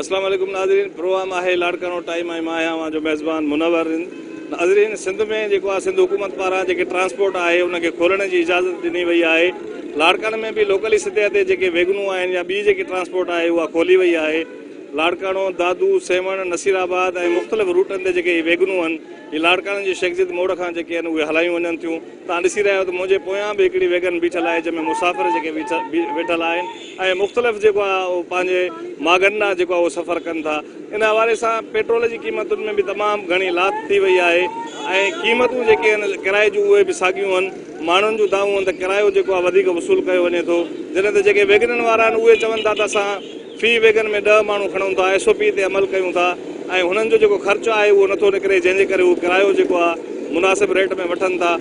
اسلام عليڪم ناظرين پروگرام آهي لاڙڪاڻو ٽائيم ۽ مان آهيان اوهان جو ميزبان منور ناظرين سنڌ ۾ جيڪو آهي سنڌ حڪومت پاران جيڪي ٽرانسپورٽ آهي ان کي کولڻ جي اجازت ڏني وئي آهي لاڙڪاڻو ۾ به لوڪلي سطح تي جيڪي ويگنون آهن يا ٻي جيڪي ٽرانسپورٽ آهي اها کولي وئي آهي لاڙڪاڻو دادو سيوهڻ نصير آباد ۽ مختلف روٽن تي جيڪي ويگنون آهن هي لاڙڪاڻن جي شيخزيد موڙ کان جيڪي آهن اهي هلايون وڃن ٿيون. توهان ڏسي رهيا آهيو ته منهنجي پويان به هڪڙي ويگن بيٺل آهي جنهن ۾ مسافر جيڪي ويٺل آهن ۽ مختلف جيڪو آهي اهو پنهنجي ماڳن ڏانهن جيڪو آهي اهو سفر ڪن ٿا. ان حوالي سان پيٽرول جي قيمتن ۾ به تمام گهڻي لاٿ ٿي وئي آهي ۽ قيمتون جيڪي آهن ڪرائي جون اهي به ساڳيون آهن. ماڻهن جون دانهون آهن ته ڪرايو جيڪو آهي وڌيڪ وصول ڪيو وڃي ٿو جڏهن ته جيڪي ويگنن وارا آهن اهي چون ٿا ته اسان في ويگن ۾ ڏهه ماڻهو کڻون ٿا، ايس او پي تي عمل ڪيون ٿا ۽ هنن جو جيڪو خرچ آهي اهو نٿو نڪري جنهن جي ڪري هو ڪرايو جيڪو آهي مناسب ريٽ ۾ وٺن ٿا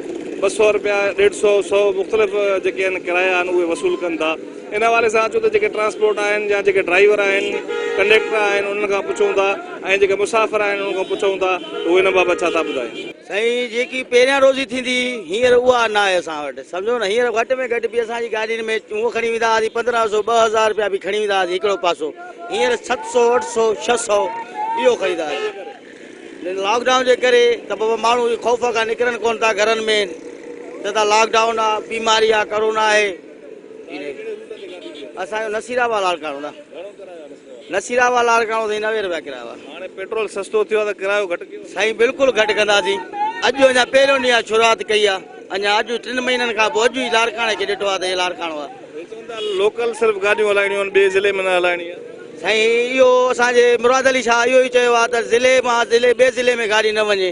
ٻه سؤ رپيا ڏيڍ سؤ سؤ مختلف جيڪي آهن ڪرايا آهن اهي وصول ڪن ٿا ان حوالي سان اچو ته جيڪي ٽرانسپورٽ آهن يا جيڪي ڊرائيور آهن ڪنڊيڪٽر آهن انهن کان پڇون ٿا ۽ جيڪي مسافر آهن انهن کان پڇون ٿا ته هو ان بابت ڇا ٿا ٻڌائين. سائين جيڪي پهريان روزي ٿيندي هئي هينئر اها ناهي اسان وٽ سمجهو نه هينئر گهٽ ۾ گهٽ به اسان جي گاڏين ۾ هونء کڻي ويندا هئاسين پندرهن سو ٻه هزار رپيا به کڻي ويندا هئاسين هڪڙو پاسو هينئر ست سو اٺ سو ڇهه سو اهو خريدا هئاسين لاڪ ڊائون جي ڪري ته بابا ماڻهو خوف کان نڪرن ڪون ٿا گهرن ۾ چئن ٿا لاڪ ڊائون آهي بيماري آهي ڪرونا آهي اسان جو نصير آباد لاڙڪاڻو نه نصير آباد لاڙڪاڻو سائين نوي روپيا ڪرايو آ هاڻي پيٽرول سستو ٿيو آ ته ڪرايو گهٽ ڪيو سائين بلڪل گهٽ ڪنداسين اڄ جو اڃا پهريون ڏينهن آ شروعات ڪئي آ اڃا اڄ ٽن مهينن کان پوء اڄ ئي لاڙڪاڻي کي ڏٺو آ ته هي لاڙڪاڻو آ هي چون ٿا لوڪل صرف گاڏيون هلائڻيون آهن ٻئي ضلعي ۾ نه هلائڻي آ سائين اهو اسان جي مراد علي شاهه اهو ئي چيو آ ته ضلعي مان ضلعي ٻئي ضلعي ۾ گاڏي نه وڃي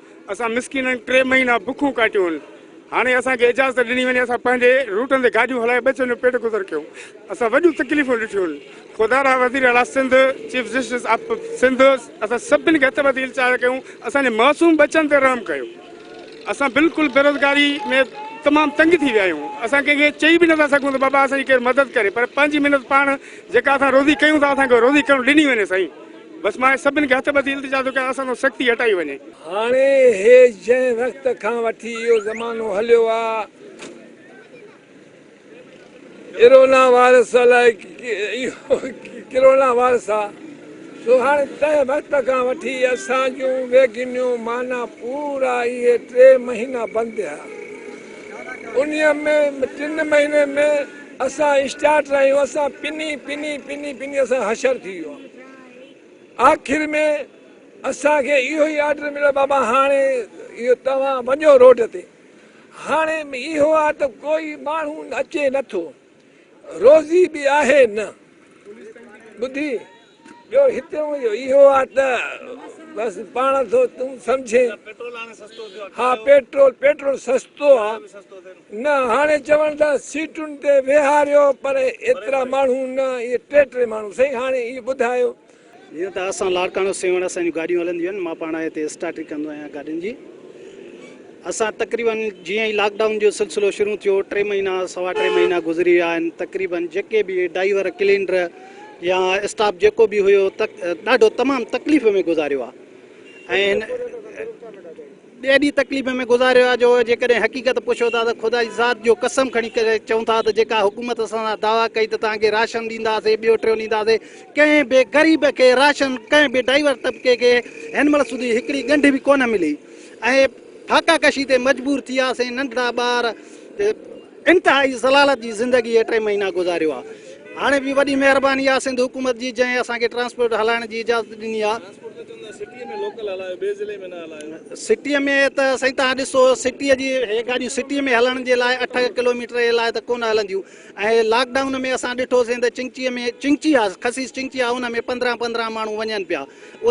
اسان مسڪينن ٽي مهينا بکون ڪاٽيون هاڻي اسان کي اجازت ڏني وڃي اسان پنهنجي روٽن تي گاڏيون هلائي ٻچن جو پيٽ گذر ڪيون اسان وڏيون تڪليفون ڏٺيون خدا را وزير اعليٰ Sindh chief justice of Sindh اسان سڀن کي هٿ ٻڌي الچار ڪيون اسان جي معصوم بچن تي رحم ڪيو اسان بلڪل بيروزگاري ۾ تمام تنگ ٿي ويا آهيون اسان ڪنهن کي چئي به نٿا سگهون ته بابا اسان جي ڪير مدد ڪري پر پنهنجي محنت پاڻ جيڪا اسان روزي ڪيون ٿا اسان کي روزي ڪرڻ ڏني وڃي سائين بس ماهي سڀن کي هٿ ٻڌي التجا ٿو ڪيان اسان تان سختي هٽائي وڃي. هاڻي هي جنهن وقت کان وٺي اهو زمانو هليو آ ارونا وائرس الائي اهو ڪرونا وائرس آ سو هاڻي تنهن وقت کان وٺي اسان جون ويگنيون معنيٰ پورا اهي ٽي مهينا بند رهيا انهي ۾ ٽن مهينن ۾ اسان اسٽارٽ رهيون اسان پني پني پني پني اسان حشر ٿي ويو آ. آخر ۾ اسان کي اهو ئي آرڊر مليو بابا هاڻي اهو توهان وڃو روڊ تي هاڻي اهو آ ته ڪوئي ماڻهو اچي نه ٿو روزي به آهي نه ٻڌي ٻيو هتيون جو اهو آ ته بس پاڻ ٿو تون سمجهين ها پيٽرول پيٽرول سستو آ نه هاڻي چوڻ ته سيٽن تي ويهاريو پر ايترا ماڻهو نه اهي ٽي ٽي ماڻهو سائين هاڻي اهي ٻڌايو. جيئن ته اسان لاڙڪاڻو سيوهڻ اسان جون گاڏيون هلنديون آهن مان پاڻ هتي اسٽاٽري ڪندو آهيان گاڏين جي اسان تقريبن جيئن ئي لاڪ ڊائون جو سلسلو شروع ٿيو ٽي مهينا سوا ٽي مهينا گذري ويا آهن تقريبن جيڪي به ڊائيور ڪلينڊر يا اسٽاف جيڪو به هيو ڏاڍو تمام تڪليف ۾ گذاريو آهي ۽ ڏهه ڏينهن تڪليف ۾ گذاريو آهي جو جيڪڏهن حقيقت پڇو ٿا ته خدا جي ذات جو قسم کڻي ڪري چئون ٿا ته جيڪا حڪومت اسان سان دعويٰ ڪئي ته توهان کي راشن ڏينداسين ٻيو ٽيون ڏينداسين ڪنهن به غريب کي راشن ڪنهن به ڊائيور طبقي کي هن مهل سڌي هڪڙي ڳنڍ به ڪونه ملي ۽ فاقا ڪشي تي مجبور ٿياسين ننڍڙا ٻار انتهائي ذلالت جي زندگي هي ٽي مهينا گذاريو آ هاڻي به وڏي مهرباني آ سنڌ حڪومت جي جنهن اسان کي ٽرانسپورٽ هلائڻ جي اجازت ڏني آ سٽي ۾ لوڪل هلايو ٻي ضلعي ۾ نه هلايو سٽي ۾ ته سائين توهان ڏسو سٽي جي هي گاڏيون سٽي ۾ هلڻ جي لاء اٺ ڪلوميٽر جي لاء ته ڪونه هلنديون ۽ لاڪ ڊائون ۾ اسان ڏٺو سين ته چنگچي ۾ چنگچي آ خسيس چنگچي آ ان ۾ پندرهن پندرهن ماڻهو وڃن پيا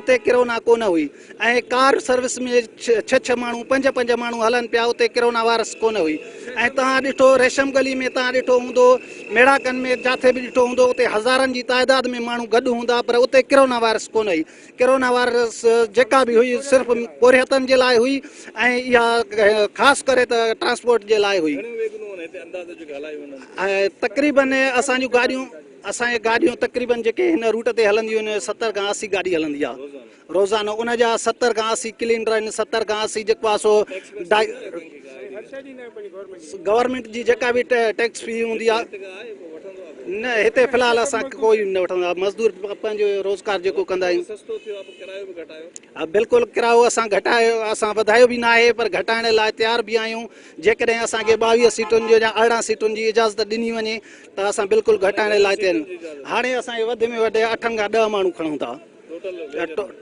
اتي ڪرونا ڪونه هئي ۽ ڪار سروس ۾ ڇهه ڇهه ماڻهو پنج پنج ماڻهو هلن پيا اتي ڪرونا وائرس ڪونه هئي ۽ توهان ڏٺو ريشم گلي ۾ توهان ڏٺو هوندو ميڙاڪن ۾ جاٿي به ڏٺو هوندو اتي هزارن جي تعداد ۾ ماڻهو گڏ هوندا پر اتي ڪرونا وائرس ڪونه هئي ڪرونا وائرس جيڪا به هئي صرف پورهيتن جي لاء هئي ۽ اها خاص ڪري ته ٽرانسپورٽ جي لاء هئي ۽ تقريبن اسان جون گاڏيون اسان جي گاڏيون تقريبن جيڪي هن روٽ تي هلنديون آهن ستر کان اسي گاڏي هلندي آهي روزانو ان جا ستر کان اسي ڪلينڊر آهن ستر کان اسي جيڪو آهي سو گورنمينٽ جي جيڪا به ٽيڪس في هوندي آهي نه هتي في الحال اسان ڪوئي نه وٺندو آهي مزدور پنهنجو روزگار جيڪو ڪندا آهيون بلڪل ڪرايو اسان گهٽايو اسان وڌايو به نه آهي پر گهٽائڻ لاء تيار به آهيون جيڪڏهن اسانکي ٻاويهه سيٽن جو يا ارڙهن سيٽن جي اجازت ڏني وڃي ته اسان بلڪل گهٽائڻ لاء تيار آهيون هاڻي اسان وڌ ۾ وڌ اٺن کان ڏهه ماڻهو کڻون ٿا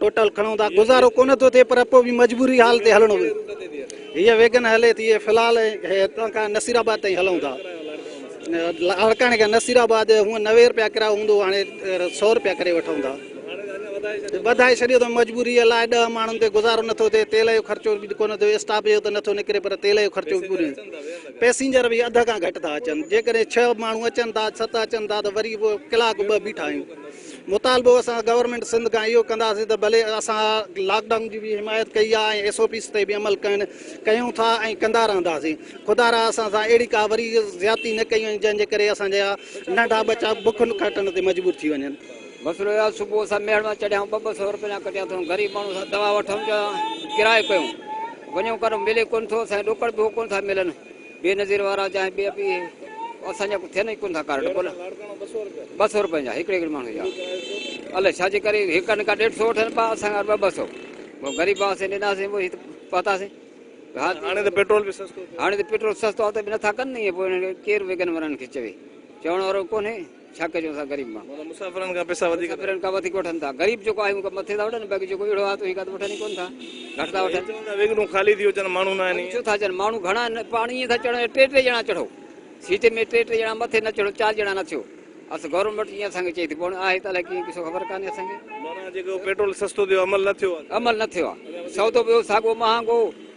ٽوٽل کڻون ٿا گذارو ڪونه ٿو ٿئي پر پوء به مجبوري حال تي هلڻو هيء ويگن هلي ٿي في الحال هتان کان نصير آباد تائين هلون ٿا لاڙڪاڻي کان نصير آباد هونء نوي روپيا ڪرايو هوندو هاڻي سؤ روپيا ڪري وٺون ٿا ٻڌائي ڇڏيو ته مجبوري لاء ڏهه ماڻهن تي گذارو نٿو ٿئي تيل جو خرچو به ڪونه ٿيو اسٽاف جو ته نٿو نڪري پر تيل جو خرچو به پوري پئسينجر به اڌ کان گهٽ ٿا اچن جيڪڏهن ڇهه ماڻهو اچن ٿا ست اچن ٿا ته وري به ڪلاڪ ٻه بيٺا آهيون مطالبو اسان گورنمينٽ سنڌ کان اهو ڪنداسين ته ڀلي اسان لاڪ ڊائون جي به حمايت ڪئي آهي ۽ ايس او پيز تي به عمل ڪين ڪيون ٿا ۽ ڪندا رهنداسين خدا را اسان سان اهڙي ڪا وري زيادتي نه ڪئي وڃي جنهن جي ڪري اسان جا ننڍا ٻچا بک کاٽڻ تي مجبور ٿي وڃن. مسئلو اهو آهي صبح اسان ميهڙ مان چڙهيا آهيون ٻه ٻه سئو رپيا ڪڍيا اٿئون غريب ماڻهو اسان دوا وٺئون جا ڪرايو ڪيون وڃون ڪرو ملي ڪونه ٿو اسان کي ڏوڪڙ به هو ڪونه ٿا ملن. بي نظير وارا چاهي ٻيا ٻي اسان جا ٿين ئي ڪونه ٿا ڪارڊ ٻه ٻه سؤ رپين جا هڪڙي هڪڙي ماڻهو جا الائي ڇا جي ڪري هڪ نڪا ڏيڍ سؤ وٺن پا اسان کان ٻه ٻه سؤ پوء غريب آسين ڏناسين پوء هت پهتاسين هاڻي ته پيٽرول به سستو هاڻي ته پيٽرول سستو آهي ته به نٿا ڪن ني پوء هنن کي ڪير ويڳن وارن کي چوي چوڻ وارو ڪونهي ڇا ڪجون اسان غريب مان. مطلب مسافرن کان پئسا وڌيڪ. مسافرن کان وڌيڪ وٺن ٿا. غريب جيڪو آهي اهو مٿي ٿا وٺن باقي جيڪو اهڙو آهي ته اهي ڪا ته وٺن ئي ڪونه ٿا. گهٽ ٿا وٺن. چون ٿا ويڳڙون خالي ٿيون اچن ماڻهو نه آهن. ڇو ٿا اچن ماڻهو گهڻا آهن پاڻ ائين ٿا چڙهن ٽي ٽي ڄڻا چڙهو سيٽ ۾ ٽي ٽي ڄڻا مٿي نه چڙهو چار ڄڻا نه ٿيو اصل گورنمينٽ ائين اسان کي چئي ٿي پوڻ آهي ته الائي ڪيئن ڪي سو خبر ڪانهي اسان کي. معنيٰ جيڪو پيٽرول سستو ٿيو عمل نه ٿيو آهي. عمل نه ٿيو آهي سودو به ساڳو مهانگو.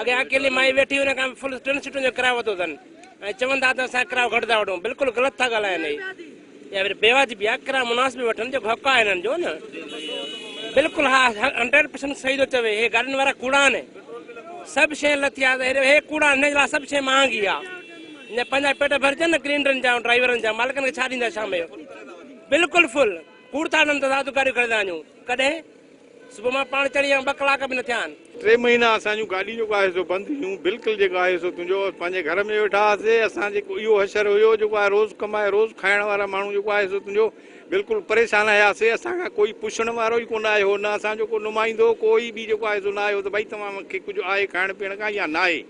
اڳي اڪيلي مائي ويٺي هئي ان کان فل ٽن سيٽن جو ڪرايو ورتو اٿن ۽ چون ٿا ته اسان ڪرايو گهٽ ٿا وٺون بلڪل غلط ٿا ڳالهائن هي يا وري بيواجبي آهي ڪرايو مناسب وٺن جيڪو حق آهي هنن جو نه بلڪل ها هنڊريڊ پرسنٽ صحيح ٿو چوي هي گاڏين وارا ڪوڙا آهن سڀ شي لٿي آ هي ڪوڙا آهن هن لاء سڀ شي مهانگي آهي نه پنهنجا پيٽ ڀرجن نه گرينڊرن جا ڊرائيورن جا مالڪن کي ڇا ڏيندا شام جو بلڪل فل ڪوڙ ٿا هنن ته ذات گاڏيون خريدا آهن ڪڏهن صبح مان پاڻ چڙهي آيم ٻه ڪلاڪ به نه ٿيا آهن. ٽي مهينا اسان جون گاڏين جو ڪا حصو بند هيون بلڪل جيڪو آهي سو تنهنجو اسان پنهنجي گهر ۾ ويٺا هئاسي اسان جيڪو اهو حشر هيو جيڪو آهي روز ڪمائي روز کائڻ وارا ماڻهو جيڪو آهي سو تنهنجو بلڪل پريشان هياسي اسان کان ڪوئي پڇڻ وارو ئي ڪونه آيو نه اسان جو ڪو نمائندو ڪوئي به جيڪو آهي سو نه آيو ته ڀئي توهان کي ڪجهه آهي کائڻ پيئڻ کان يا ناهي.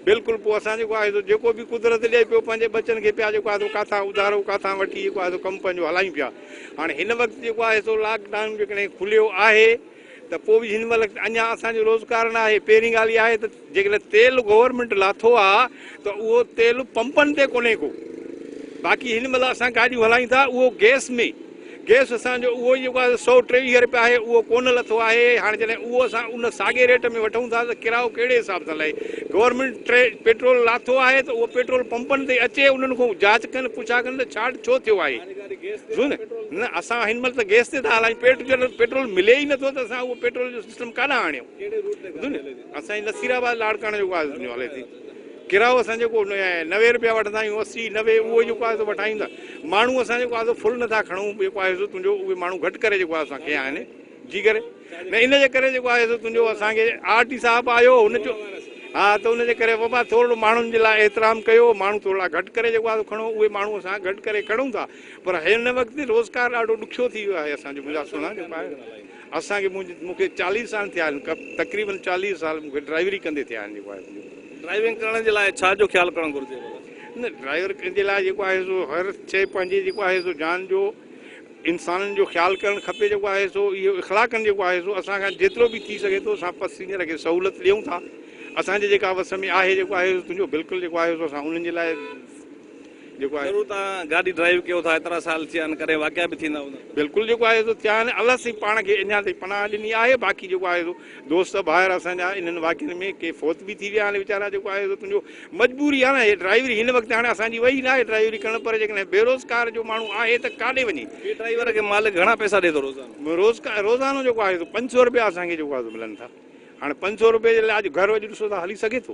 بلڪل پوء اسان جيڪو آهي سو جيڪو به قدرت ڏئي پيو پنهنجي ٻچن کي پيا جيڪو آهي سو ڪاٿان اڌارو ڪاٿان وٺي جيڪو آهي سو ڪم پنهنجو هلايون پيا هاڻي هن وقت جيڪو آهي سو لاڪ ڊائون جيڪڏهن کليو آهي ته پوء به هن مهل اڃا اسان جو روزگار نه آهي پهرين ڳالهه اها آهي ته جيڪڏهن تيل گورنمينٽ لاٿو آهي ته اهو تيل پمپن تي ڪونهي ڪو باقي هن مهل اسان گاڏيون هلايون ٿا اهو گيس ۾ گئس اسان جو اهو ئي جيڪو آهي سؤ ٽيويهه رپيا آهي اهو ڪونه لٿو آهي هاڻي جڏهن اهو اسان ان ساڳي ريٽ ۾ وٺون ٿا ته ڪرايو ڪهڙي حساب سان لهي گورنمينٽ ٽري پيٽرول لاٿو آهي ته اهو پيٽرول پمپن تي اچي انهن کان جاچ ڪن پڇا ڪن ته ڇا ڇو ٿيو آهي ڏسو نه نه اسان هن مهل ته گئس تي ٿا هلايون پيٽ جڏهن پيٽرول ملي ئي نٿو ته اسان اهو پيٽرول جو سسٽم ڪاڏانهن آڻيون ڏسو نه اسان جي نصير آباد لاڙڪاڻه جيڪو آهي هلي ٿي ڪرايو اسان جيڪو نوي روپيا وٺندا آهيون اسي نوي اهو جيڪو آهي سو وٺايون ٿا ماڻهو اسان جيڪو آهي سو فل نٿا کڻون جيڪو آهي سو تنهنجو اهي ماڻهو گهٽ ڪري جيڪو آهي اسان کي آهن جي ڪري نه ان جي ڪري جيڪو آهي سو تنهنجو اسان کي آر ٽي صاحب آيو هن جو ها ته ان جي ڪري بابا ٿورڙو ماڻهن جي لاء احترام ڪيو ماڻهو ٿورڙا گهٽ ڪري جيڪو آهي سو کڻو اهي ماڻهو اسان گهٽ ڪري کڻون ٿا پر هن وقت روزگار ڏاڍو ڏکيو ٿي ويو آهي اسان جو مزاج سونا جيڪو آهي اسان کي مون کي چاليهه سال ٿيا آهن تقريبن چاليهه سال مون کي ڊرائيوري ڪندي ٿيا آهن جيڪو آهي ڊرائيونگ ڪرڻ جي لاء ڇا جو خيال ڪرڻ گهرجي ڀلا؟ نه ڊرائيور جي لاء جيڪو آهي سو هر شي پنهنجي جيڪو آهي سو جان جو انسانن جو خيال ڪرڻ کپي جيڪو آهي سو اهو اخلاقن جيڪو آهي سو اسان کان جيترو به ٿي سگهي ٿو اسان پسينجر کي سهولت ڏيون ٿا اسان جي جيڪا وس ۾ آهي جيڪو آهي سو تنهنجو بلڪل جيڪو آهي سو اسان انهن جي لاء جيڪو آهي. ضرور توهان گاڏي ڊرائيو ڪيو ٿا ايترا سال ٿيا آهن ڪڏهن واقعا به ٿيندا هوندا. بلڪل جيڪو آهي سو ٿيا آهن الله سائين پاڻ کي اڃا تائين پناهه ڏني آهي باقي جيڪو آهي سو دوست ڀائر اسان جا انهن واقعن ۾ ڪي فوت به ٿي ويا آهن ويچارا جيڪو آهي سو تنهنجو مجبوري آهي نه هي ڊرائيوري هن وقت هاڻي اسان جي وئي نه آهي ڊرائيوري ڪرڻ پر جيڪڏهن بيروزگار جو ماڻهو آهي ته ڪاڏي وڃي. هي ڊرائيور کي مالڪ گهڻا پئسا ڏي ٿو روزانو. روزگار روزانو جيڪو آهي سو پنج سؤ رپيا اسان کي جيڪو آهي سو ملن ٿا هاڻي پنج سؤ رپئي جي لاء اڄ گهر اڄ ڏسو ٿا هلي سگهي ٿو.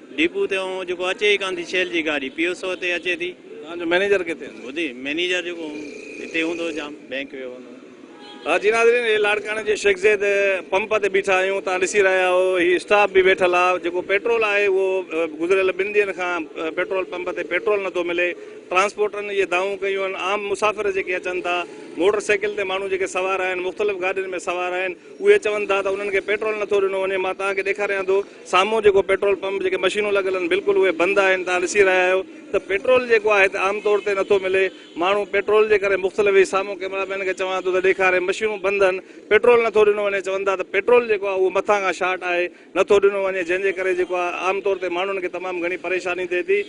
ڊيپو تي اهو جيڪو اچي ئي ڪانه ٿي شيل جي گاڏي پي او سو تي اچي ٿي. توهان جو مئنيجر ڪٿي آهي؟ ٻڌ مئنيجر جيڪو هتي هوندو جام بئنڪ ويو هوندو. ها جي ناظرين هي لاڙڪاڻي جي شيخ زيد پمپ تي بيٺا آهيون توهان ڏسي رهيا آهيو هي اسٽاف به ويٺل آ جيڪو پيٽرول آهي اهو گذريل ٻن ڏينهن کان پيٽرول پمپ تي پيٽرول نٿو ملي ٽرانسپورٽرن اهي دانهون ڪيون آهن عام مسافر جيڪي اچن ٿا موٽر سائيڪل تي ماڻهو جيڪي سوار آهن مختلف گاڏين ۾ سوار آهن اهي چون ٿا ته انهن کي پيٽرول نٿو ڏنو وڃي مان توهان کي ڏيکاريان ٿو سامهون جيڪو پيٽرول پمپ جيڪي مشينون لڳل آهن بلڪل اهي بند آهن توهان ڏسي رهيا آهيو ته پيٽرول جيڪو آهي هتي عام طور تي نٿو ملي ماڻهو پيٽرول جي ڪري مختلف هي سامهون ڪيمرا مين کي چوان ٿو ته ڏيکاري مشينون بند آهن پيٽرول نٿو ڏنو وڃي چون ٿا ته پيٽرول جيڪو آهي اهو مٿان کان شارٽ آهي نٿو ڏنو وڃي جنهن جي ڪري جيڪو آهي عام طور تي ماڻهن کي تمام گهڻي پريشاني ٿئي ٿي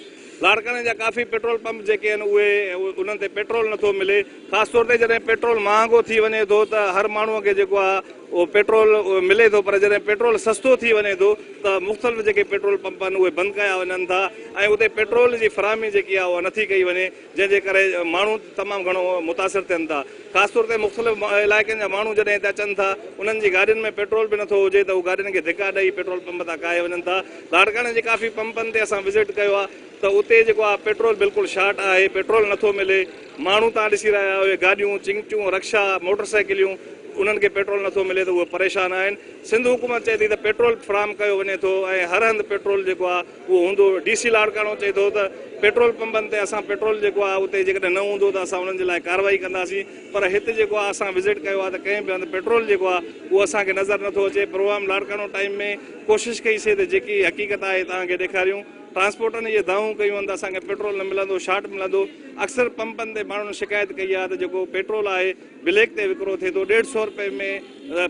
لاڙڪاڻي جا ڪافي پيٽرول پمپ جيڪي آهن اهي انهن تي پيٽرول نٿو ملي خاص طور تي جڏهن پيٽرول مهانگو ٿي وڃي ٿو ته هر ماڻهو کي جيڪو آهي پيٽرول ملي ٿو پر جڏهن پيٽرول سستو ٿي وڃي ٿو ته مختلف جيڪي پيٽرول پمپ آهن اهي بند ڪيا وڃن ٿا ۽ اتي پيٽرول جي فراهمي جيڪي آهي اها نٿي ڪئي وڃي جنهن جي ڪري ماڻهو تمام گهڻو متاثر ٿين ٿا خاص طور تي مختلف علائقن جا ماڻهو جڏهن هتي اچن ٿا انهن جي گاڏين ۾ پيٽرول به نٿو هجي ته هو گاڏين کي ڌڪا ڏئي پيٽرول پمپ تان ڪاهي وڃن ٿا لاڙڪاڻي جي ڪافي پمپن تي اسان وزٽ ڪيو آهي ته اتي جيڪو آهي پيٽرول بلڪل شارٽ آهي پيٽرول نٿو ملي ماڻهو تان ڏسي رهيا آهيو اهي گاڏيون، چنگٽيون، رڪشا، موٽر سائيڪليون انهن کي پيٽرول نٿو ملي ته اهي پريشان آهن، سنڌ حڪومت چئي ٿي ته پيٽرول فراهم ڪيو وڃي ٿو ۽ هر هنڌ پيٽرول جيڪو آهي اهو هوندو، ڊي سي لاڙڪاڻو چئي ٿو ته پيٽرول پمپن تي اسان پيٽرول جيڪو آهي اتي جيڪڏهن نه هوندو ته اسان انهن جي لاء ڪارروائي ڪنداسين پر هت جيڪو آهي اسان وزٽ ڪيو آهي ته ڪنهن به هنڌ پيٽرول جيڪو آهي اهو اسان کي نظر نٿو اچي، پروگرام لاڙڪاڻو ٽائيم ۾ ڪوشش ڪئي سي ته جيڪي حقيقت آهي توهان کي ڏيکاريون، ٽرانسپورٽن اهي دانهون ڪيون آهن ته اسان کي پيٽرول نه ملندو، شارٽ ملندو، اڪثر پمپن تي ماڻهن شڪايت ڪئي آهي ته جيڪو پيٽرول آهي بليڪ تي وڪرو ٿئي ٿو ڏيڍ سئو روپئي ۾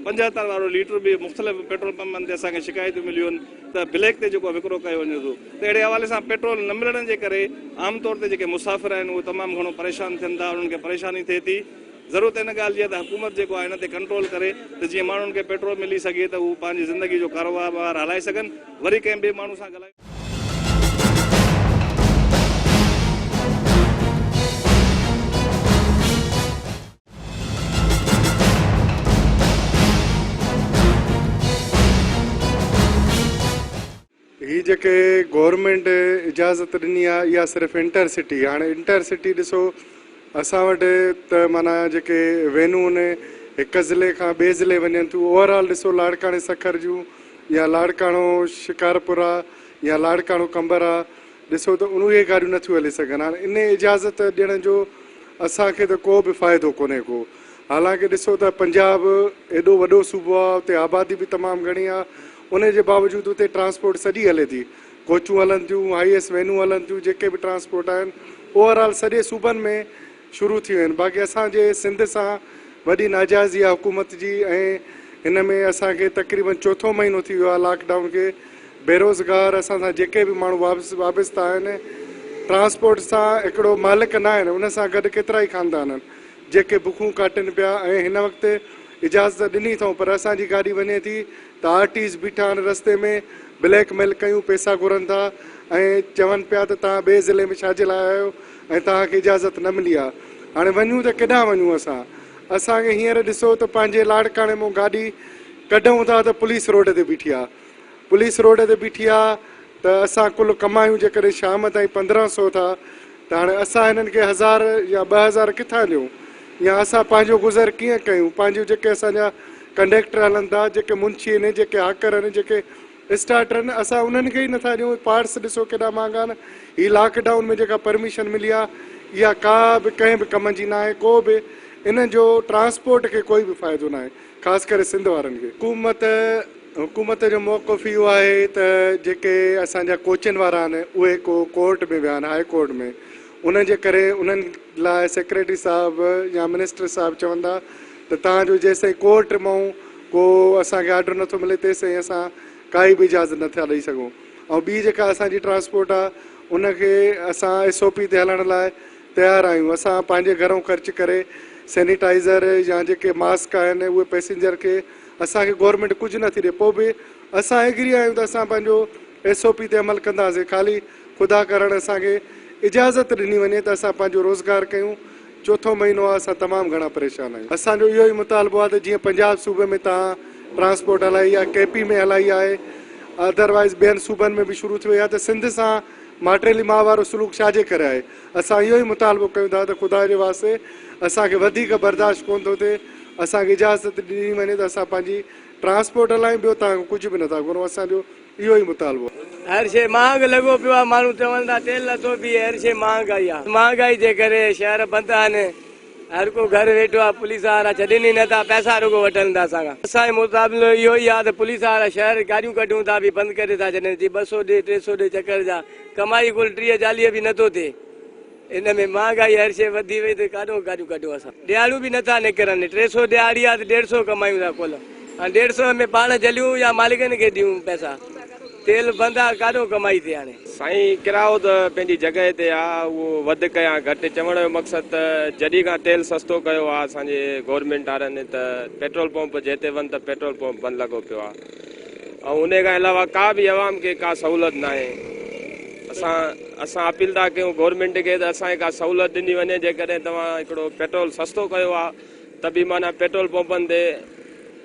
پنجهتر وارو ليٽر به مختلف پيٽرول پمپن تي اسان کي شڪايتون مليون آهن ته بليڪ تي جيڪو وڪرو ڪيو وڃي ٿو ته اهڙي حوالي سان پيٽرول نه ملڻ جي ڪري عام طور تي جيڪي مسافر آهن اهي تمام گهڻو پريشان ٿين ٿا انهن کي پريشاني ٿئي ٿي ضرورت ان ڳالهه جي آهي ته حڪومت جيڪو آهي ان تي ڪنٽرول ڪري ته جيئن ماڻهن کي پيٽرول ملي سگهي ته هو پنهنجي زندگي جو ڪاروبار هلائي سگهن وري ڪنهن ٻئي ماڻهو سان ڳالهايو هي جيڪي گورنمينٽ اجازت ڏني آهي اها صرف انٽر سٽي هاڻي انٽر سٽي ڏسو اسان وٽ ته مانا جيڪي وينون هن هڪ ضلعي کان ٻئي ضلعي وڃن ٿيون اوور آل ڏسو لاڙڪاڻي سکر جون يا لاڙڪاڻو شڪارپورا يا لاڙڪاڻو قمبرا ڏسو ته اهي گاڏيون نٿيون هلي سگهن هاڻ ان اجازت ڏيڻ جو اسان کي ته ڪو به فائدو ڪونهي ڪو حالانڪه ڏسو ته پنجاب ايڏو وڏو صوبو آهي اتي آبادي به تمام گهڻي آهي ان جي باوجود اتي ٽرانسپورٽ سڄي هلي ٿي ڪوچون هلن ٿيون هائي ايس وينون هلن ٿيون جيڪي به ٽرانسپورٽ آهن اوور آل سڄي صوبن ۾ شروع ٿي ويون آهن باقي اسان جي سنڌ سان وڏي ناجائزي آهي حڪومت جي ۽ ان ۾ اسان کي تقريبن چوٿون مهينو ٿي ويو آهي لاڪ ڊائون کي بيروزگار اسان سان جيڪي به ماڻهو وابسته آهن ٽرانسپورٽ سان هڪڙو مالڪ نه آهن ان سان گڏ ڪيترائي خاندان آهن جيڪي بکون ڪاٽن پيا ۽ هن وقت اجازت ڏني اٿئون پر اسان جي گاڏي وڃي ٿي ته آر ٽيز بيٺا آهن رستي ۾ بليڪ ميل ڪيون پيسا گهرن ٿا ۽ چون پيا ته توهان ٻئي ضلعي ۾ ڇا جي لاء آيا آهيو ۽ توهان کي اجازت نه ملي آهي. هاڻي وڃون ته ڪيڏانهن وڃون اسان؟ اسان کي هينئر ڏسو ته پنهنجي لاڙڪاڻي مون گاڏي ڪڍئون ٿا ته پوليس روڊ تي بيٺي آهي. پوليس روڊ تي بيٺي آهي ته اسان ڪل ڪمايون جيڪڏهن شام تائين پندرهن سو ٿا ته هاڻي اسان هنن کي هزار يا ٻه هزار ڪٿان ڏيون يا اسان پنهنجو گذر ڪيئن ڪيون؟ پنهنجو جيڪي اسان جا ڪنڊيڪٽر هلن ٿا، جيڪي منشي هن، جيڪي هاڪر هن، جيڪي اسٽارٽرن اسان انهن کي ئي نٿا ڏيون پارٽس ڏسو ڪيڏا مهانگا آهن هي لاڪ ڊائون ۾ جيڪا پرميشن ملي آهي اها ڪا به ڪنهن به ڪم جي ناهي ڪو به انهن جو ٽرانسپورٽ کي ڪوئي به فائدو ناهي خاص ڪري سنڌ وارن کي. حڪومت حڪومت جو موقف اهو آهي ته جيڪي اسان جا ڪوچن وارا آهن اهي ڪو ڪورٽ ۾ ويا آهن هاء ڪورٽ ۾ انهن جي ڪري انهن لاء سيڪريٽري صاحب يا منسٽر صاحب چوندا ته تان جو جيستائين ڪورٽ مئون ڪو اسان کي آرڊر نٿو ملي تيستائين اسان ڪائي به اجازت نٿا ڏئي سگهون ۽ ٻي جيڪا اسان جي ٽرانسپورٽ آ ان کي اسان ايس او پي تي هلڻ لاء تيار آهيون اسان پنهنجي گهرئون خرچ ڪري سينيٽائيزر يا جيڪي ماسڪ آهن اهي پئسينجر کي اسان کي گورنمينٽ ڪجهه نٿي ڏئي پوء به اسان ايگري آهيون ته اسان پنهنجو ايس او پي تي عمل ڪنداسين خالي خدا ڪرڻ اسان کي اجازت ڏني وڃي ته اسان پنهنجو روزگار ڪيون چوٿون مهينو آ اسان تمام گهڻا پريشان آهيون اسان جو اهو ئي مطالبو آ ته جيئن پنجاب صوبي ۾ تهان ٽرانسپورٽ هلائي آ ڪي پي ۾ هلائي آهي اڌروائيز ٻين صوبن ۾ به شروع ٿي وئي آ ته سنڌ سان ماٽيلي ماء وارو سلوڪ ڇاجي ڪري آهي اسان اهو ئي مطالبو ڪيون ٿا ته خدا جي واسطي اسان کي وڌيڪ برداشت ڪون ٿو ٿئي اسان کي اجازت ڏني وڃي ته اسان پنهنجي ٽرانسپورٽ هلايون ٻيو تهان کان ڪجهه به نه ٿا گهرون اسان جو اهو ئي مطالبو. هر شيء مهانگ لڳو پيو آهي، ماڻهو چون ٿا تيل نٿو بيهي، هر شيء مهانگ آئي آهي، مهانگائي جي ڪري شهر بند آهن، هر ڪو گهر ويٺو آهي، پوليس وارا ڇڏين ئي نٿا، پئسا رڳو وٺن ٿا اسان کان، اسان جو مطالبو اهو ئي آهي ته پوليس وارا شهر گاڏيون ڪڍون ٿا به بند ڪري ٿا ڇڏين، جي ٻه سؤ ڏي ٽي سؤ ڏي چڪر جا، ڪمائي ڪل ٽيهه چاليهه به نٿو ٿئي. ان ۾ مهانگائي هر شيء وڌي وئي ته ڪاڏو گاڏيون ڪڍون اسان ڏيهاڙو به نٿا نڪرن ٽي سو ڏيهاڙي آ ته ڏيڍ سو ڪمايون ٿا ڪل هاڻي ڏيڍ سو ۾ پاڻ جليون يا مالڪن کي ڏيون پئسا تيل بند آ ڪاڏو ڪمائي ٿي هاڻي. سائين ڪرايو ته پنهنجي جڳهه تي آ اهو وڌڪ يا گهٽ چوڻ جو مقصد ته جڏهن کان تيل سستو ڪيو آ اسان جي گورنمينٽ وارن ته پيٽرول پمپ جي تي وڃ ته پيٽرول پمپ بند لڳو پيو آ. ان کان علاوه ڪا به عوام کي ڪا سهولت ناهي اسان اسان اپيل ٿا ڪيون گورنمينٽ کي ته اسان کي ڪا سهولت ڏني وڃي جيڪڏهن توهان هڪڙو پيٽرول سستو ڪيو آ ته به معنيٰ پيٽرول پمپن تي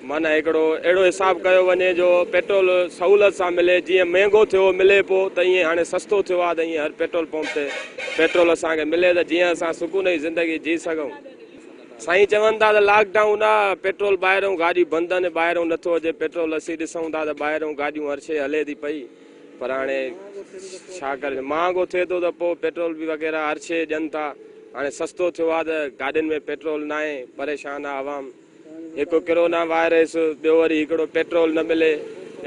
معنيٰ هڪڙو اهڙو حساب ڪيو وڃي جو پيٽرول سهولت سان ملي جيئن مهنگو ٿيو ملي پو ته ايئن هاڻي سستو ٿيو آ ته ايئن هر پيٽرول پمپ تي پيٽرول اسان کي ملي ته جيئن اسان سڪون جي زندگي جي سگهون سائين چون ٿا ته لاڪ ڊائون آ پيٽرول ٻاهرئون گاڏيون بند آهن ٻاهرئون نٿو اچي پيٽرول اسين ڏسئون ٿا ته ٻاهرئون گاڏيون هر شئي هلي ٿي پئي پر هاڻي ڇا ڪرجي مهانگو ٿئي ٿو ته پوء پيٽرول به وغيره هر شئي ڏين ٿا هاڻي سستو ٿيو آ ته گاڏين ۾ پيٽرول ناهي پريشان آ عوام هڪ ڪرونا وائرس ٻيو وري هڪڙو پيٽرول نه ملي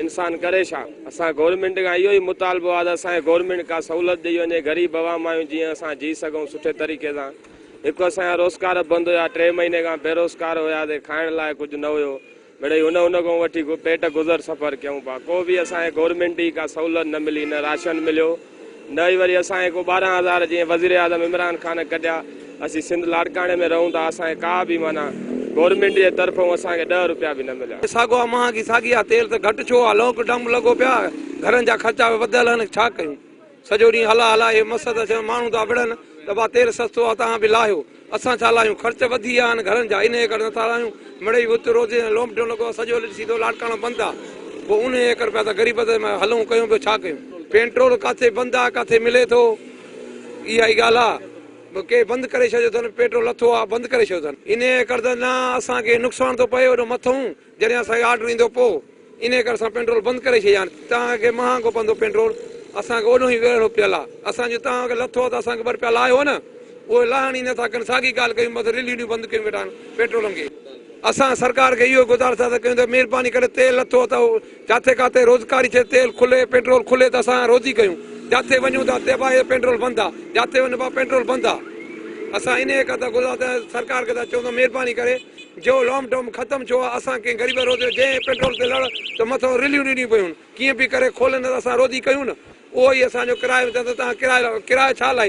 انسان ڪري ڇا اسان گورنمينٽ کان اهو ئي مطالبو آ ته اسان کي گورنمينٽ ڪا سهولت ڏئي وڃي غريب عوام آهيون جيئن اسان جي سگهئون سٺي طريقي سان هڪ اسان جا روزڪار بند هيا، ٽي مهيني کان بيروزگار هياسين، کائڻ لاء ڪجهه نه هيو، مڙئي هن هن کان وٺي پيٽ گذر سفر ڪيون پيا، ڪو به اسان کي گورنمينٽ جي ڪا سهولت نه ملي، نه راشن مليو، نه ئي وري اسان کي ڪو ٻارهن هزار جيئن وزيراعظم عمران خان ڪڍيا، اسين سنڌ لاڙڪاڻي ۾ رهون ٿا، اسان کي ڪا به معنيٰ گورنمينٽ جي طرفون اسان کي ڏهه روپيا به نه مليا. ساڳو آ مهانگي ساڳي آ تيل ته گهٽ ڇو آ، لاڪ ڊائون لڳو پيو آ، گهرن جا خرچا به وڌيل آهن ڇا ڪيون. سڄو ڏينهن هلا هلا اهي مس ته ڇونه ماڻهو ٿا وڙهن، دٻا تيل سستو آ تان به لاهيو. اسان ڇا لاهيون خرچ وڌي آ ان گهرن جا ان ايڪڙ نٿا لاهيون. مڙئي وت روزي ۽ لوم ڊيون لڳو آ سڄو لٽ سيڌو لاڙڪاڻو بند آ پوء ان ايڪڙ پيا ته غريب ته هلون ڪيون به ڇا ڪيون. پينٽرول ڪاٿي بند آ ڪاٿي ملي ٿو اها ئي ڳالهه آ به ڪي بند ڪري ڇڏيو ٿن پيٽرول لٿو آ بند ڪري ڇڏيو ٿن ان ايڪڙ ته نه اسان کي نقصان ٿو پئي اڏو مٿئون. جڏهن اسان کي آرڊر ايندو پوء انهي ڪري اسان پينڊرول بند ڪري ڇڏي هاڻي توهان کي مهانگو پوندو پينڊرول اسان کي اوڏهون ئي ويڙهو پيل آ اسان جو توهان کي لٿو آ ته اسان کي ٻه رپيا لاهيو نه اهي لاهڻ ئي نٿا ڪن ساڳي ڳالهه ڪيون بس رليون بند ڪيون ويٺا آهن پيٽرولن کي اسان سرڪار کي اهو ئي گذارش ٿا ڪيون ته مهرباني ڪري تيل لٿو آ ته جاٿي ڪاٿي روزگاري ٿئي تيل کلي پيٽرول کلي ته اسان روزي ڪيون جاٿي وڃون ته اتي ڀائي پيٽرول بند آ جاٿي وڃ ڀائي پيٽرول بند آ اسان انهي کان ته گذرا ته سرڪار کي ته چئون ته مهرباني ڪري جو لام ڊام ختم ٿيو آ اسان ڪنهن غريب روزي جو جنهن پيٽرول تي لڙ ته مٿو رليون ڏنيون پيون ڪيئن به ڪري کولن ته اسان روزي ڪيون نه اهو ئي اسان جو ڪرايو چئن ته توهان ڪرايو ڪرايو ڇا لاء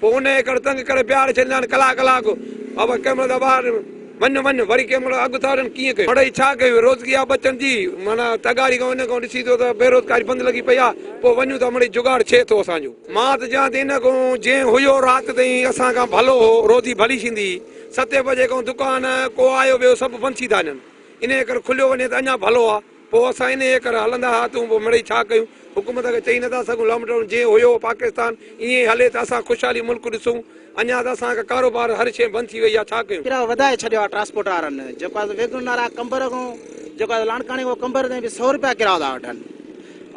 پوء انهيء ڪري تنگ ڪري بيهاري ڇڏينداآهن ڪلاڪ ڪلاڪ بابا ڪنهن مهل ٻاهر وڃ وڃ وري ڪنهن مهل اڳ ٿا وٺن ڪيئن ڪيون مڙئي ڇا ڪيون روزگي آ ٻچن جي معنيٰ تغاري کان ان کان ڏسي ٿو ته بيروزگاري بند لڳي پئي آ پوء وڃون ٿا مڙئي جگاڙ ڇي ٿو اسان جو. مان ته چوان ته ان کان جنهن هيو رات تائين اسان کان ڀلو هو روزي ڀلي ڇيندي ستين بجي کان دڪان ڪو آيو ويو سڀ بند ڇي ٿا وڃن انهيء ڪري کليو وڃي ته اڃان ڀلو آ. پوء اسان انهيء ڪري هلندا ها تون پوء مڙئي ڇا ڪيون؟ حڪومت کي چئي نٿا سگهون لام ڊائون جيئن هيو پاڪستان ائين ئي هلي ته اسان خوشحالي ملڪ ڏسون اڃا ته اسان کي ڪاروبار هر شيء بند ٿي وئي آ ڇا ڪيون؟ ڪرائو وڌائي ڇڏيو آ ٽرانسپورٽ وارن جيڪو آ سو ويگن نارا قمبر کان جيڪو آ سو لاڙڪاڻي کان قمبر تائين به سؤ روپيا ڪرائو ٿا وٺن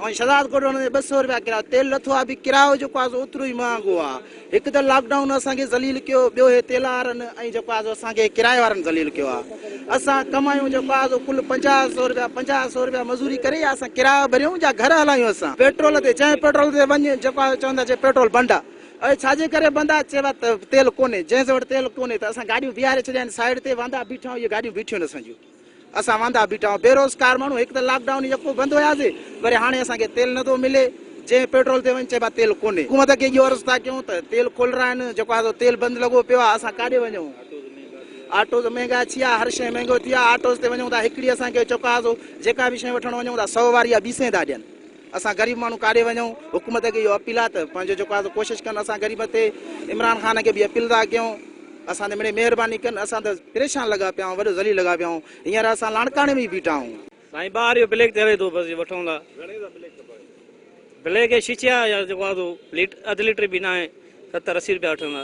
۽ شهدادڪوٽ وڃڻ تي ٻه سؤ روپيا ڪرائو تيل لٿو آ به ڪرائو جيڪو آ سو اوترو ئي مهانگو آ هڪ ته لاڪ ڊائون اسان کي ذليل ڪيو ٻيو هي تيل وارن ۽ جيڪو آهي سو اسان کي ڪرايي وارن ذليل ڪيو آهي اسان ڪمايون جيڪو آهي سو ڪل پنجاهه سئو رپيا پنجاهه سئو رپيا مزوري ڪري يا اسان ڪرايو ڀريون يا گهر هلايون اسان پيٽرول تي جنهن پيٽرول تي وڃ جيڪو آهي چون ٿا چي پيٽرول بند آهي اڙي ڇاجي ڪري بند آهي چئبو آهي ته تيل ڪونهي جنهن سان وٽ تيل ڪونهي ته اسان گاڏيون بيهاري ڇڏيا آهن سائيڊ تي واندا بيٺا آهيون اهي گاڏيون بيٺيون آهن اسان جون. اسان واندا بيٺا بي روزگار ماڻهو هڪ ته لاڪ ڊائون يڪو بند هياسي وري هاڻي اسان کي تيل نٿو ملي جنهن پيٽرول تي وڃ چئبو آهي تيل ڪونهي حڪومت کي اهو عرض ٿا ڪيون ته تيل کول رائن جيڪو آهي سو تيل بند لڳو پيو آهي اسان ڪاڏي وڃون آٽوز مهنگا ٿيا هر شيء مهنگو ٿيو آهي آٽوز تي وڃون ٿا هڪڙي اسان کي جيڪو آهي سو جيڪا به شيء وٺڻ وڃون ٿا سئو واري يا ٻي سئين ٿا ڏين اسان غريب ماڻهو ڪاڏي وڃون حڪومت کي اهو اپيل آهي ته پنهنجو جيڪو آهي سو ڪوشش ڪن اسان غريب تي عمران خان کي به اپيل ٿا ڪيون اسان تي مڙي مهرباني ڪن اسان ته پريشان لڳا پيا آهيون وڏو ذليل لڳا پيا آهيون هينئر اسان لاڙڪاڻي ۾ بيٺا آهيون. سائين ٻاهر اهو بليڪ چوي ٿو بس وٺون ٿا گهڻي جا بليڪ کپن بليڪ شيشا يا جيڪو آهي سو ليٽ اڌ ليٽر به ناهي ستر اسي روپيا وٺندا.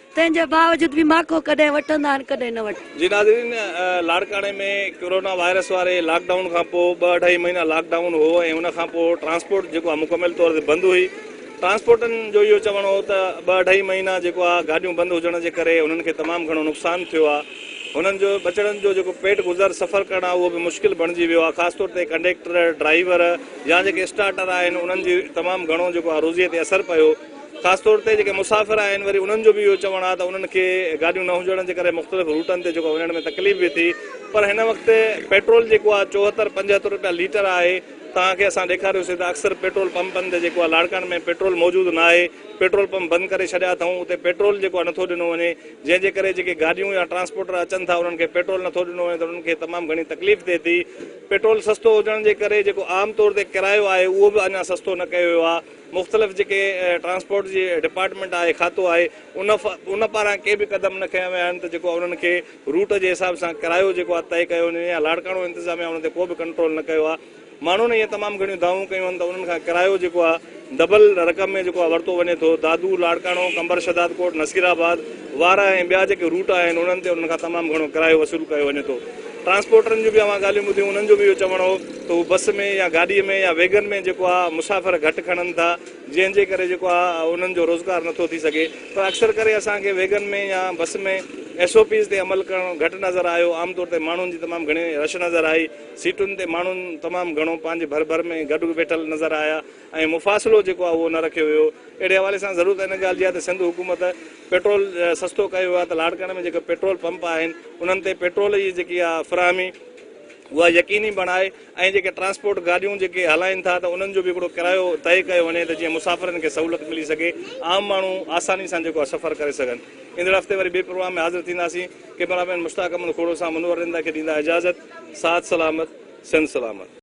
تنهن جي باوجود به ماڪو ڪڏهن وٺندا آهن ڪڏهن نه وٺندا. جي ناظرين لاڙڪاڻي ۾ ڪورونا وائرس واري لاڪ ڊائون کان پوء ٻه اڍائي مهينا لاڪ ڊائون هو ۽ ان کان پوء ٽرانسپورٽ جيڪو آهي مڪمل طور تي بند هئي ٽرانسپورٽن جو اهو چوڻ هو ته ٻه اڍائي مهينا جيڪو آهي گاڏيون بند هجڻ جي ڪري هنن کي تمام گهڻو نقصان ٿيو آهي هنن جو ٻچڙن جو جيڪو پيٽ گذر سفر ڪرڻ آهي اهو به مشڪل بڻجي ويو آهي خاص طور تي ڪنڊيڪٽر ڊرائيور يا جيڪي اسٽارٽر آهن انهن جي تمام گهڻو جيڪو آهي روزي تي اثر پيو خاص طور تي جيڪي مسافر آهن وري انهن جو به اهو چوڻ آهي ته انهن کي گاڏيون نه هجڻ جي ڪري مختلف روٽن تي جيڪو وڃڻ ۾ تڪليف به ٿي پر هن وقت پيٽرول جيڪو آهي چوهتر پنجهتر رپيا ليٽر آهي توهان کي اسان ڏيکاريوسي ته اڪثر پيٽرول پمپن تي جيڪو آهي لاڙڪاڻي ۾ پيٽرول موجود ناهي پيٽرول پمپ بند ڪري ڇڏيا اٿئون اتي پيٽرول جيڪو آهي نٿو ڏنو وڃي جنهن جي ڪري جيڪي گاڏيون يا ٽرانسپورٽر اچن ٿا انهن کي پيٽرول نٿو ڏنو وڃي ته انهن کي تمام گهڻي تڪليف ٿئي ٿي پيٽرول سستو هجڻ جي ڪري جيڪو عام طور تي ڪرايو آهي اهو به اڃا سستو نه ڪيو ويو آهي مختلف جيڪي ٽرانسپورٽ جي ڊپارٽمينٽ آهي کاتو آهي ان پاران ڪي به قدم نه کنيا ويا آهن ته جيڪو انهن کي روٽ جي حساب سان ڪرايو جيڪو آهي طئي ڪيو وڃي يا لاڙڪاڻو انتظاميا ان تي ڪو به ڪنٽرول نه ڪيو آهي ماڻهن ائين تمام گهڻيون دعوون ڪيون آهن ته انهن کان ڪرايو جيڪو آهي دبل رقم ۾ جيڪو آهي ورتو وڃي ٿو دادو لاڙڪاڻو قمبر شهدادڪوٽ نصيرآباد وارا ۽ ٻيا جيڪي روٽ آهن انهن تي انهن کان تمام گهڻو ڪرايو وصول ڪيو وڃي ٿو ٽرانسپورٽرن جون به اوهان ڳالهيون ٻڌيون انهن جو به اهو چوڻ هو ته هو بس ۾ يا گاڏي ۾ يا ويگن ۾ جيڪو آهي مسافر گهٽ کڻن ٿا جنهن جي ڪري جيڪو آهي انهن جو روزگار نٿو ٿي سگهي پر اڪثر ڪري اسان کي ويگن ۾ يا بس ۾ ايس او پيز تي عمل ڪرڻ گهٽ نظر آيو عام طور تي ماڻهن جي تمام گهڻي رش نظر آئي سيٽن تي ماڻهن تمام گهڻو پنهنجي ڀر ڀر ۾ گڏ ويٺل نظر آيا ۽ مفاصلو جيڪو آهي اهو نه رکيو ويو. اهڙي حوالي سان ضرورت ان ڳالهه جي آهي ته سنڌ حڪومت پيٽرول سستو ڪيو ويو آهي ته لاڙڪاڻي ۾ جيڪي پيٽرول پمپ آهن انهن تي پيٽرول جي جيڪي آهي فراهمي اها يقيني بڻائي ۽ جيڪي ٽرانسپورٽ گاڏيون جيڪي هلائين ٿا ته انهن جو به هڪڙو ڪرايو طئي ڪيو وڃي ته جيئن مسافرن کي سهولت ملي سگهي عام ماڻهو آساني سان جيڪو آهي سفر ڪري سگهن. ايندڙ هفتي وري ٻي پروگرام ۾ حاضر ٿينداسين. ڪيمرا مين مشتاق احمد کوڙو سان منور رندا کي ڏيندا اجازت. ساٿ سلامت. سنڌ سلامت.